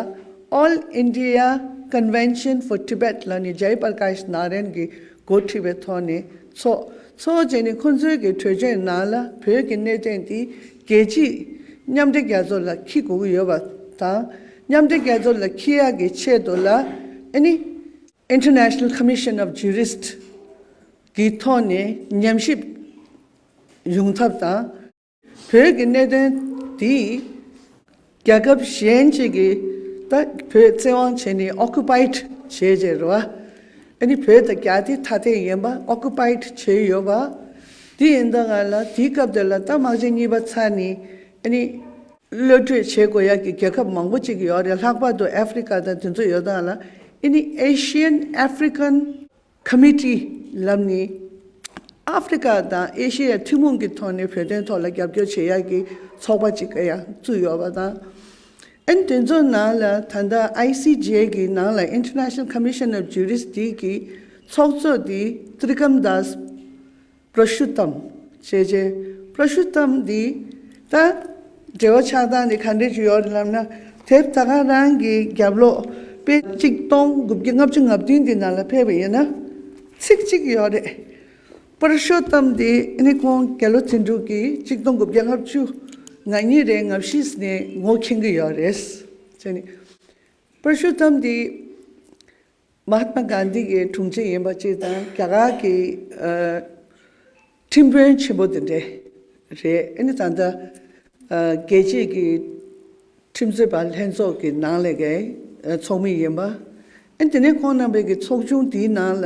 All India Convention for Tibet ལ་ནས Jai Prakash Narain གི་འགོ་ཁྲིད་པའི་ཐོག་ནས་ཚོགས། ཚོགས་བཅས་ནས་ཁོང་ཚོའི་གི་གྲོས་ཆོད་ནང་ལ་བོད་ཀྱི་གནད་དོན་འདི་རྒྱལ་སྤྱིས་མཉམ་འབྲེལ་རྒྱལ་ཚོགས་ལ་འཁྱི་དགོས་ཀྱི་ཡོད་པ་དང། མཉམ་འབྲེལ་རྒྱལ་ཚོགས་ལ་འཁྱི་ཡག་གི་ཆེད་དུ་ལ་ཨེ་ནི། International Commission of Jurists། གི་ཐོག་ནས་ཉམས་ཞིབ་ཡོང་ཐབས་དང། བོད་ཀྱི་གནད་དོན་འདི་རྒྱལ་ཁབ་གཞན་གཅིག་གིས་ད་བོད་བཙན་དབང་བྱས་ནས Occupied བྱས་རྗེས་རེད་བ། ཨ་ནི་བོད་དང་རྒྱ་དེ་ཐ་དད་ཡིན་པ Occupied བྱས་ཡོད་བ། དེ་ཡིན་ད་ང་ལ་དེའི་སྐབས་དེར་ལ་ད་དམག་ཆེན་གཉིས་པ་ཚར་ནས་ཨ་ནི་གློད་བཀྲོལ་བྱེད་དགོས་ཡག་གི་རྒྱལ་ཁབ་མང་པོ་གཅིག་ཡོད་རེད་ལྷག་པར་དུ Africa དང་དེ་ཚོ་ཡོད་ད་ང་ལ་ཨི་ནི Asian African ཁ་མི་ཏྲི་ལབ་ནི། ཨ་ཧྥེ་རི་ཁ་དང་ཨེ་ཤེ་ཡ་ཐུན་མོང་གི་ཐོག་ནས་བོད་དོན་ཐོག་ལ་རྒྱབ་སྐྱོར་བྱེད་ཡག་གི་ཚོགས་པ་ཅིག་ག་ཡང་བཙུགས་ཡོད་པ་དང། ཨན་དེ་ཚོ་ནང་ལ་ད་ལྟ་ཨའི་སི་རྗེ་གི་ནང་ལ International Commission of Jurisdict གི་ཚོགས་གཙོ་དེ Trigamdas པྲ་ཤུ་ཏམ། ཞེས་བྱའི། པྲ་ཤུ་ཏམ་འདི། ད། འབྲེལ་བ་ཆགས་སྟངས་འདི་ག་འདྲས་ཀྱི་ཡོད་རེད་ལབ་ན། དེབ་ད་ག་རང་གི་རྒྱབ་ལོགས། དཔེ། གཅིག་སྟོང་དགུ་བརྒྱ་ལྔ་བཅུ་ང་བདུན་གྱི་ནང་ལ་ཕེབས་པ་ཡིན་ན། ཚིག་གཅིག་ཡོད་རེད། པྲ་ཤུ་ཏམ་འདི་ནི་ཁོང་རྒྱ་ལོ་ཚན་དྲུག་གི་གཅིག་སྟོང་དགུ་བརྒྱ་ལྔ་བཅུ་ང་གཉིས་རེ་ང་བཞིས་ནས་ངོ་མཁྱེན་གྱི་ཡོད་རེད། ཅེས་ནི། པྲ་ཤུ་ཏམ་འདི། མ་ཧཱ་ཏྨ་གཱན་དྷི་ཡི་དྲུང་ཆེ་ཡིན་པ་གཅིག་དང་རྒྱ་གར་གྱི་ཁྲིམས་དཔོན་ཆེན་པོ་དེ་འདྲས་རེད། ཨེ་ནི་ད་ལྟ་རྒྱལ་སྤྱིས་ཀྱི་ཁྲིམས་རྩོད་པ་ལྷན་ཚོགས་ཀྱི་ནང་ལས་ཀའི་ཚོགས་མི་ཡིན་པ། ཨེ་ནི་དེ་ནས་ཁོང་རྣམ་པས་ཀྱི་ཚོགས་ཆུང་དེའི་ནང་ལ།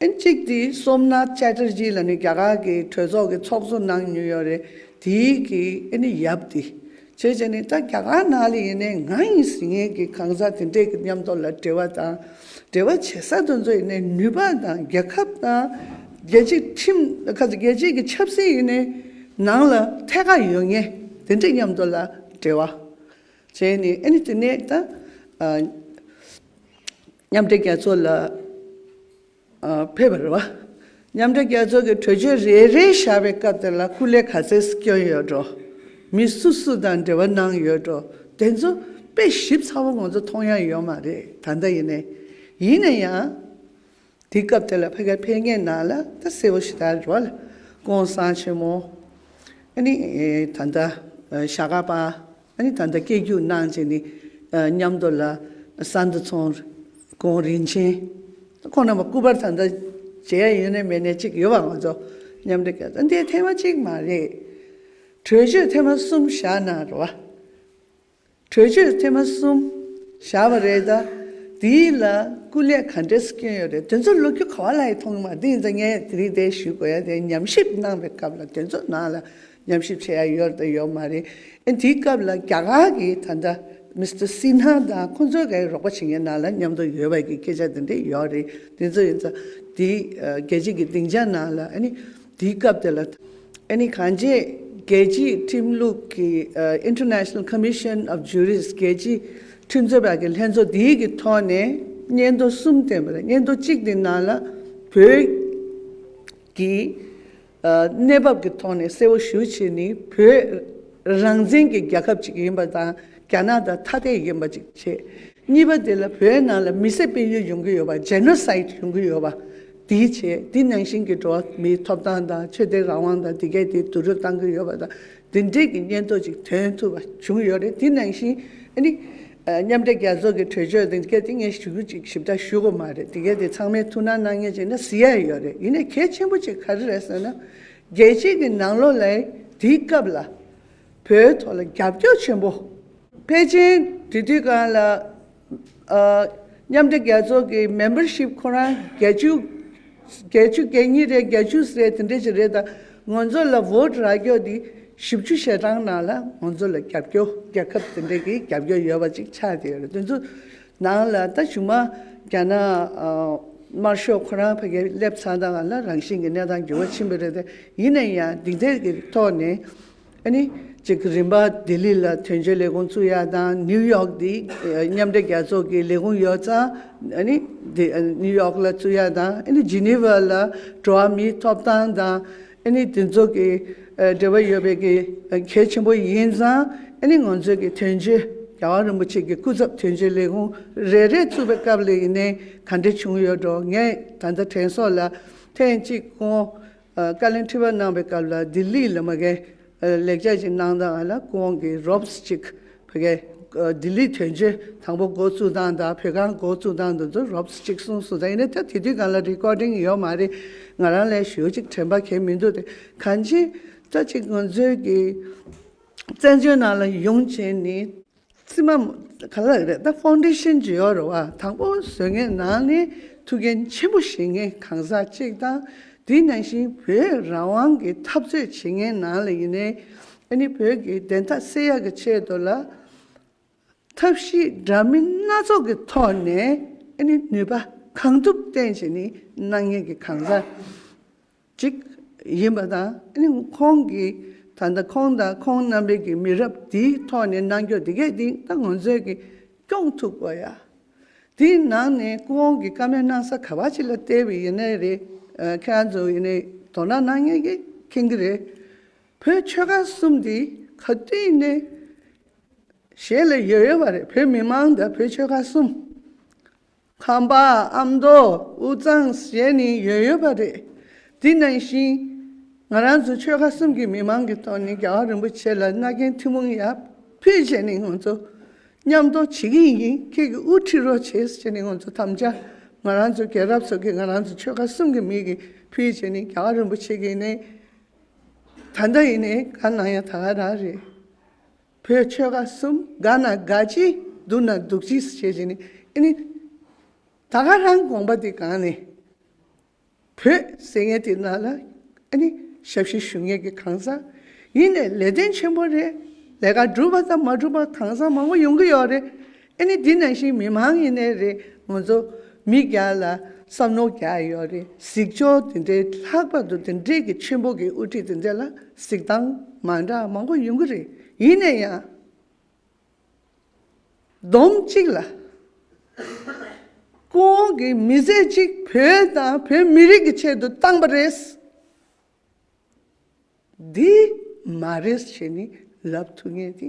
ཨིན་གཅིག་དེ་སོམ་ན་ཅལ་ཏྲེ་ཇི་ལ་ནི་རྒྱ་གར་གྱི་གྲོས་ཚོགས་ཀྱི་ཚོགས་གཙོ་གནང་མྱོང་ཡོད་རེད་དེ་གི་ཨེ་ནི་ཡབ་དེ། བྱས་བྱས་ནི་ད་རྒྱ་གར་ནང་ལ་ཡིན་ནའི་ང་ཡིན་ཟིན་ངེད་ཀྱི་གང་ཟག་དེ་འདྲས་ཀྱི་མཉམ་ཐོག་ལ་འབྲེལ་བ་དང་འབྲེལ་བ་བྱེད་ས་དེ་ཚོ་ཡིན་ནའི་ནུས་པ་དང་རྒྱལ་ཁབ་དང། རྒྱལ་སྤྱིའི་ཁྲིམས་ཁ་ཟེ་རྒྱལ་སྤྱིའི་གྱི་ཆབ་སྲིད་ཡིན་ནའི་ནང་ལ་ཐད་ཀ་ཡོད་ངེས་དེ་འདྲས་མཉམ་ཐོག་ལ་འབྲེལ་བ་བྱས་ནི་ཨེ་ནི་དེ་ནས་ད། མཉམ་འབྲེལ་རྒྱལ་ཚོགས་ལ་ཕེབས་པར་རོ། མཉམ་འབྲེལ་རྒྱལ་ཚོགས་ཀྱི་གྲོས་ཆོད་རེ་རེ་བཞག་པའི་སྐབས་དེ་ལ་སྐུ་ལས་ག་ཚད་སྐྱོན་ཡོད་འགྲོ། མི་སུ་སུ་དང་འབྲེལ་བ་གནང་ཡོད་འགྲོ་དེ་ཚོ་དཔེ་ཞིབ་ཚ་བོ་ང་ཚོ་མཐོང་ཡ་ཡོད་མ་རེད་ད་ལྟ་ཡིན་ནའི། ཡིན་ནའི་ཡང། དེ་སྐབས་དེ་ལ་ཕ་ག་ཕེབས་མཁན་ནང་ལ་ད་གསལ་བོ་ཞིག་ད་རོ། ཀོང་སང་ཆེན་མོ། ཨ་ནི། ད་ལྟ། ཞྭ་དགའ་པ། ཨ་ནི་ད་ལྟ་སྐྱེ་རྒྱུགས་གནང་བྱས་ནས་ཉམས་དོར་ལ་ས་འདུ་ཚོང་ཀོང་རིན་ཆེན་ཁོང་རྣམས་པ་སྐུ་པར་ད་ལྟ་མཇལ་ཡ་ཡོད་ནས་མེད་ནས་ཅིག་ཡོད་པ་ང་ཚོ་མཉམ་འབྲེལ་གྱི་ད་འདི་ཐེངས་མ་གཅིག་མ་རེད། གྲོས་ཆོད་ཐེངས་མ་གསུམ་བཞག་གནང་རོགས། གྲོས་ཆོད་ཐེངས་མ་གསུམ་བཞག་པ་རེད་ད། དེའི་ལ་སྐུ་ལས་ག་འདྲས་སྐྱོན་ཡོད་རེད་དོན་ཚོགས་ལོ་རྒྱུས་ག་བ་ལ་ཡི་ཐོག་མ་དེ་ཡིན་ཙང་ངས་དེ་རིགས་དེ་ཞུས་དགོས་ཡ་དེ་ཉམས་ཞིབ་གནང་བའི་སྐབས་ལ་དོན་ཚོགས་ནང་ལ་ཉམས་ཞིབ་བྱེད་ཡ་ཡོད་དང་ཡོད་མ་རེད། དེའི་སྐབས་ལ་རྒྱ་གར་གྱི་ད་ལྟ Mister Sinha དང་ཁོང་ཚོའི་ག་རེ་རོགས་པ་བྱེད་མཁན་ནང་ལ་མཉམ་དུ་ཡོད་པ་གྱི་སྐད་ཆ་དེ་འདྲ་ཡོད་རེད། དེ་ཚོ་ཡིན་ཙང་དེ་རྒྱལ་སྤྱི་གྱི་སྡིངས་ཆ་ནང་ལ་དེའི་སྐབས་དེ་ལ་གང་ཅེས་རྒྱལ་སྤྱིའི་ཁྲིམས་ལུགས་ཀྱི International Commission of Jurists རྒྱལ་སྤྱིའི་ཁྲིམས་རྩོད་པ་གྱི་ལྷན་ཚོགས་དེའི་གི་ཐོག་ནས་སྙན་ཐོ་གསུམ་བསྟན་པ་རེད་སྙན་ཐོ་གཅིག་དེའི་ནང་ལ་བོད་ཀྱི། གནས་བབ་ཀྱི་ཐོག་ནས་གསལ་བོ་ཞུ་ཆེད་ནི་བོད་རང་བཙན་གྱི་རྒྱལ་ཁབ་ཅིག་ཡིན་པ་དང་རྒྱ་ནག་དང་ཐ་དད་ཡིན་པ་གཅིག་བྱས། གཉིས་པ་དེ་ལ་བོད་ནང་ལ་མི་སེར་སྤེལ་ཡུལ་ཡོང་གི་ཡོད་པ Genocide ཡོང་གི་ཡོད་པ་དེའི་ཆེད་དེ་ནང་བཞིན་གྱི་འགྲོ་བ་མིའི་ཐོབ་ཐང་དང་ཆོས་དད་རང་དབང་དང་དེ་གས་དེ་བསྡུ་རུབ་བཏང་གི་ཡོད་པ་དང་འདི་འདྲིལ་གྱི་སྙན་ཐོ་ཅིག་ཐོན་ཐུབ་པ་བྱུང་ཡོད་རེད་དེ་ནང་བཞིན་ནི། མཉམ་འབྲེལ་རྒྱལ་ཚོགས་ཀྱི་གྲོས་ཆོད་འདི་གལ་ཏེ་ངས་ཞུ་རྒྱུ་ཅིག་ཞིབ་ལྟ་ཞུས་གོ་མ་རེད་དེ་གལ་ཏེ་ཚང་མས་ཐུགས་སྣང་གནང་ངེས་ཅིག་ན་བཟི་ཡ་ཡོད་རེད་ཡིན་ནས་གལ་ཆེན་པོ་ཅིག་ག་རེ་རེད་ཟེར་ན། རྒྱལ་སྤྱིས་ཀྱི་ནང་ལོག་ལས་དེའི་སྐབས་ལ། བོད་ཐོག་ལ་རྒྱབ་སྐྱོར་ཆེན་པོ། ཕལ་ཆེན་དེ་དུས་གང་ལ། མཉམ་འབྲེལ་རྒྱལ་ཚོགས་ཀྱི Membership ཁོ་རང་བརྒྱད་ཅུ། བརྒྱད་ཅུ་གྱ་གཉིས་རེད་བརྒྱད་ཅུ་ཟེར་དེ་འདྲ་ཞིག་རེད་ད། ང་ཚོ་ལ Vote རག་རྒྱོག་འདི་བཞི་བཅུ་ཞེ་གྲངས་ནང་ལ་ང་ཚོ་ལ་རྒྱབ་སྐྱོ་རྒྱལ་ཁབ་དེ་འདྲ་གི་རྒྱབ་སྐྱོ་ཡོད་པ་ཅིག་ཆགས་ཀྱི་ཡོད་དེ་ཚོ་ནང་ལ་ད་བཞུགས་མ་རྒྱ་ནག་དམར་ཤོག་ཁོ་རང་ཕ་གི་སླེབས་ཚར་ད་ང་ལ་རང་བཞིན་གྱི་གནས་སྟངས་འགྱུར་བ་ཕྱིན་པ་རེད་དེ་ཡིན་ན་ཡང་འདི་འདྲ་གི་ཐོག་ནས་གཅིག་རིམ་པ་ལྡི་ལི་ལ་དོན་གཅོད་ལས་ཁུངས་བཙུགས་ཡ་དང་ནིའུ་ཡོག་ཏི་མཉམ་འབྲེལ་རྒྱལ་ཚོགས་ཀྱི་ལས་ཁུངས་ཡོད་ཙང་ནིའུ་ཡོག་ལ་བཙུགས་ཡ་དང་ཇི་ནི་ཝར་ལ་འགྲོ་བ་མིའི་ཐོབ་ཐང་དང་དེ་ཚོ་གི་འབྲེལ་བ་ཡོད་པའི་གལ་ཆེན་པོ་ཡིན་ཙང་ང་ཚོས་ཀྱི་དོན་གཅོད་རྒྱལ་བ་རིན་པོ་ཆེ་གི་སྐུ་ཚབ་དོན་གཅོད་ལས་ཁུངས་རེ་རེ་བཙུགས་པའི་སྐབས་ལ་ཡིན་ནའི་ག་འདྲི་བྱུང་ཡོད་འགྲོ་ངས་ད་ལྟ་དྲན་སོགས་ལ་ཐེངས་གཅིག་གོང་བཀའ་ལན་དྲི་བ་གནང་བའི་སྐབས་ལ་ལྡི་ལི་ལ་མ་གན་ལེགས་སྦྱར་གྱི་གནང་སྟངས་ལ་སྐུ་དབང་གིས་རོབ་ས་ཅིག་བོད་སྐད་ལྡི་ལི་དོན་གཅོད་དང་པོ་འགོ་བཙུགས་སྟངས་དང་བོད་ཁང་འགོ་བཙུགས་སྟངས་དེ་ཚོ་རོབ་ས་ཅིག་གསུངས་སོང་ད་ཡིན་ན་ད་དེ་དུས་གང་ལ Recording ཡོད་མ་རེད་ང་རང་ལས་ཞོལ་ཅིག་དྲན་པ་གལ་མི་འདུག་དེ་གང་ཅི་ལྟ་ཅིག་ང་ཚོའི་གི་བཙན་བྱོལ་ནང་ལ་ཡོང་བྱས་ནི། ཚིག་མ། ག་ལ་རེད་ད་ཧྥོང་ཏེ་ཤེན་ཇི་ཡོ་རེད་བ་དང་པོ་བཟོས་མཁན་ནང་ནས་ཐུགས་འགན་ཆེན་པོ་བཞེས་མཁན་གང་ཟག་གཅིག་དང། དེ་ནང་བཞིན་བོད་རང་དབང་གི་འཐབ་རྩོད་བྱེད་མཁན་ནང་ལ་ཡིན་ནའི། ཨ་ནི་བོད་ཀྱི་བདེན་མཐའ་གསལ་ཡག་གི་ཆེད་དུ་ལ། ཐབས་ཤེས་འདྲ་མིན་སྣ་ཚོགས་ཀྱི་ཐོག་ནས་ཨ་ནི་ནུས་པ་གང་ཐུབ་བསྟན་བྱས་ནི་གནང་མཁན་གི་གང་ཟག། ཅིག་ཡིན་པ་དང། ཁོང་གིས་ད་ལྟ་ཁོང་དང་ཁོང་རྣམ་པའི་གི་མི་རབས་དེའི་ཐོག་ནས་གནང་སྐྱོང་དེ་གས་དེ་ད་ང་ཚོས་གི་སྐྱོང་ཐུབ་དགོས་ཡ། དེའི་ནང་ནས་ཁོང་གི་བཀའ་མོལ་གནང་ས་ག་བ་ཅིག་ལ་བལྟས་བའི་ཡེ་ནས་རེད། ཁྱེད་རང་ཚོ་ཡེ་ནས་དོ་སྣང་གནང་ཡ་གི་མཁྱེན་གི་རེད། བོད་ཆོལ་ཁ་གསུམ་དེ་ག་དུས་ནས་གཞན་ལ་ཡོད་ཡོད་པ་རེད་བོད་མི་མང་དང་བོད་ཆོལ་ཁ་གསུམ། ཁང་པ་ཨམ་མདོ་དབུས་གཙང་ཞེས་ནི་ཡོད་ཡོད་པ་རེད། དེ་ནང་བཞིན། ང་རང་ཚོ་ཆོལ་ཁ་གསུམ་གྱི་མི་མང་གི་ཐོག་ནས་རྒྱལ་བ་རིན་པོ་ཆེ་ལ་མནའ་གན་ཐུན་མོང་ཡར་ཕུད་བྱས་ནས་ང་ཚོ་མཉམ་གཏོགས་བྱེད་ཀྱི་ཡིན་ཁྱེད་ཀྱི་དབུ་ཁྲིད་རོགས་བྱེད་ཅེས་ནི་ང་ཚོ་དམ་བཅའ་ང་རང་ཚོ་རྒྱལ་རབས་ཚོགས་ཀྱི་ང་རང་ཚོ་ཆོལ་ཁ་གསུམ་གྱི་མིག་གི་ཕུད་བྱས་ནས་རྒྱལ་བ་རིན་པོ་ཆེ་གི་ནས་ད་ལྟ་ཡིན་ནས་ག་ནང་ཡང་ད་ག་རང་རེད། བོད་ཆོལ་ཁ་གསུམ་དགའ་ན་དགའ་གཅིག་སྡུག་ན་སྡུག་གཅིག་བྱེད་བཞིན་ནི་ཨེ་ནི། ད་ག་རང་དགོངས་པ་དེ་གང་ནི། བོད་ཟེར་མཁན་དེ་རྣམས་ལ་ཨེ་ནི་ཞབས་ཕྱི་ཞུ་མཁན་གྱི་གང་ཟག་ཡིན་ནས་ལས་དོན་ཆེན་པོ་རེད་ལས་ཀ་སྒྲུབ་པ་དང་མ་སྒྲུབ་པ་གང་ཟག་མང་པོ་ཡོང་གི་ཡོད་རེད་ཨེ་ནི་འདི་ནང་བཞིན་མི་མང་ཡིན་ནའི་རེད་ང་ཚོ་མི་རྒྱ་ལ་བསམ་ནོ་རྒྱ་ཡོད་རེད་གཟིགས་ཕྱོགས་དེ་འདྲའི་ལྷག་པར་དུ་དེ་འདྲས་ཀྱི་ཆེན་པོ་གི་དབུ་ཁྲིད་དེ་འདྲས་ལ་གཟིགས་སྟངས་མ་འདྲ་མང་པོ་ཡོང་གི་རེད་ཡིན་ནའི་ཡང་བསྡོམས་གཅིག་ལ། ཀུན་འོང་གི་མི་བཟད་ཅིག་བོད་དང་བོད་མི་རིགས་ཀྱི་ཆེད་དུ་བཏང་པ་རེད། འདི་མ་རེད་ཞེས་ནི་ལབ་ཐུབ་ངེས་དེ་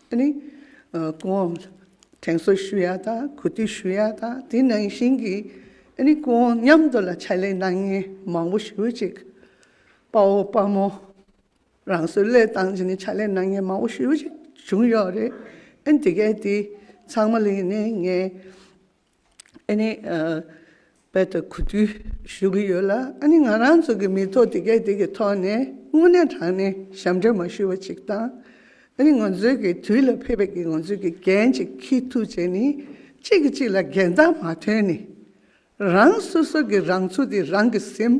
ནི། ཀུན་འོང་དྲན་གསོ་ཞུ་ཡག་དང་གུས་བཏུད་ཞུ་ཡག་དང་དེ་ནང་བཞིན་གྱི། ནི་ཀུན་འོང་མཉམ་དུ་ལ་ཕྱག་ལས་གནང་མཁན་མང་པོ་ཞུ་ཅིག། དཔའ་བོ་དཔའ་མོ། རང་བཟོའི་བློས་བཏང་ཅན་ནི་ཕྱག་ལས་གནང་མཁན་མང་པོ་ཞུ་ཅིག་བྱུང་ཡོད་རེད། ཨེ་ནི་དེ་གའི་དེ་ཚང་མ་ལས་ནི་ངའི། ཨ་ནི། བོད་དུ་གོ་དུས་ཞུ་གི་ཡོད་ལ་ཨ་ནི་ང་རང་ཚོ་གི་མི་ཐོག་དེ་གས་དེ་གི་ཐོག་ནས་དངོས་གནས་དྲང་གནས་ཞབས་འདྲེན་མ་ཞུ་བ་ཅིག་དང། ཨ་ནི་ང་ཚོའི་གི་དུས་ལ་ཕེབས་པའི་གི་ང་ཚོའི་གི་འགན་ཅིག་ཁྱི་ཐུག་བྱས་ནི་གཅིག་གི་གཅིག་ལ་འགན་ལྟ་མ་ཐོན་ནི། རང་སོ་སོ་གི་རང་ཚུགས་དེ་རང་གི་སེམས།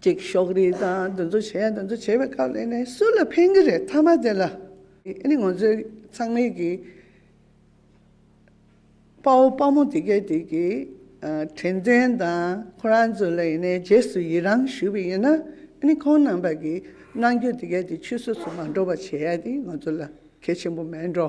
ཅིག་ཤོག་རིག་དང་འདི་ཚོ་བྱས་འདི་ཚོ་བྱས་པའི་ཁ་ལས་ནས་སུ་ལ་ཕན་གི་རེད་མཐའ་མ་དེ་ལ་ཨ་ནི་ང་ཚོའི་ཚང་མིག་གི་དཔའ་བོ་དཔའ་མོ་དེ་གས་དེ་གི་དྲན་རྟེན་དང་ཁོ་རང་ཚོ་ལ་ཡིན་ནའི་རྗེས་སུ་ཡི་རང་ཞུ་བའི་ཡིན་ན་ཨ་ནི་ཁོང་རྣམས་པ་གི་རྣང་འགྱོད་དེ་གས་དེ་ཆུད་ཟོས་སུ་མ་འགྲོ་བ་བྱས་ཡ་དེ་ང་ཚོ་ལ་གལ་ཆེན་པོ་མེད་འགྲོ་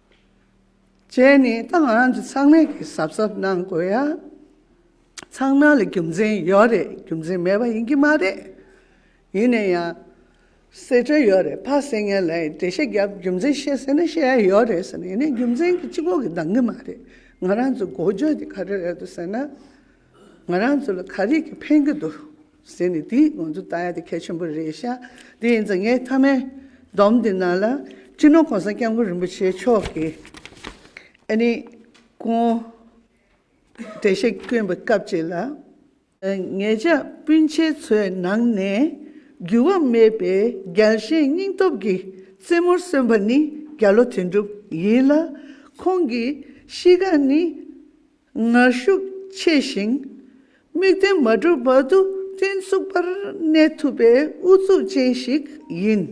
བཅས་ནི་ཏང་ཨང་ཀི་ཚང་མས་གི་གཟབ་གཟབ་གནང་དགོས་ཡ། ཚང་མ་ལ་རྒྱུ་མཚན་ཡོད་རེད་རྒྱུ་མཚན་མེད་པ་ཡིན་གི་མ་རེད། ཡིན་ན་ཡང། གསེད་བཀྲོལ་ཡོད་རེད་ཕ་གསེད་ངན་ལ་ཡིས་འགྲེལ་བཤད་རྒྱབ་རྒྱུ་མཚན་བཤད་ཟེར་ན་བཤད་ཡ་ཡོད་རེད་ཟེར་ན་ཡིན་ན་རྒྱུ་མཚན་གི་སྤྱི་ཁོག་གི་འདང་གི་མ་རེད་ང་རང་ཚོ་འགོ་བརྗོད་དེ་ག་རེ་རེད་འདུག་ཟེར་ན། ང་རང་ཚོ་ལ་ག་རེ་གི་ཕན་གི་འདུག། ཟེར་ནས་དེ་ང་ཚོ་ལྟ་ཡ་དེ་ཁྱད་ཆེན་པོ་རེད་ཤག་དེ་ཡིན་ཙང་ངའི་མཐའ་མའི་སྡོམ་དེ་ནང་ལ་སྤྱི་ནོར་གོང་ས་སྐྱབས་མགོན་རིན་པོ་ཆེ་མཆོག་གིས་ཨ་ནེ་ཀོང་བཀྲ་ཤིས་བསྐྱོན་པའི་སྐབས་ཅིག་ལ། ངེད་ཅག་སྤུན་མཆེད་ཚོའི་ནང་ནས་འགྱུར་བ་མེད་པའི་རྒྱལ་ཞེན་སྙིང་སྟོབས་ཀྱི་རྩེ་མོར་གསོན་པ་ནི་རྒྱ་ལོ་དོན་གྲུབ་ཡིན་ལ། ཁོང་གི་གཤིས་ཀ་ནི། ངར་ཤུགས་ཆེ་ཞིང། དམིགས་རྟེན་མ་གྲུབ་བར་དུ་བརྟན་ཚུགས་པར་གནས་ཐུབ་པའི་ཨུ་ཚུགས་ཅན་ཞིག་ཡིན།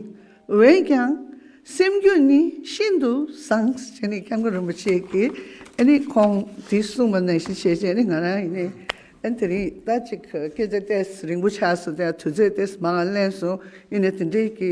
འོན་ཀྱང། སེམས་རྒྱུད་ནི་ཤིན་ཏུ་བཟང། ཅེས་ནི་སྐྱབས་མགོན་རིན་པོ་ཆེ་གིས་ནི་ཁོང་དེ་གསུངས་པ་ནང་བཞིན་བྱས་རྗེས་ནི་ང་རང་ཡིན། དེ་རིང་ཟླ་གཅིག་གི་སྐད་ཆ་ལྟས་རིང་པོ་ཆགས་སོང་དེ་ཡང་དུས་ཚོད་ལྟས་མ་ལན་སོང་ཡིན་ནའི་དེ་འདྲའི་གི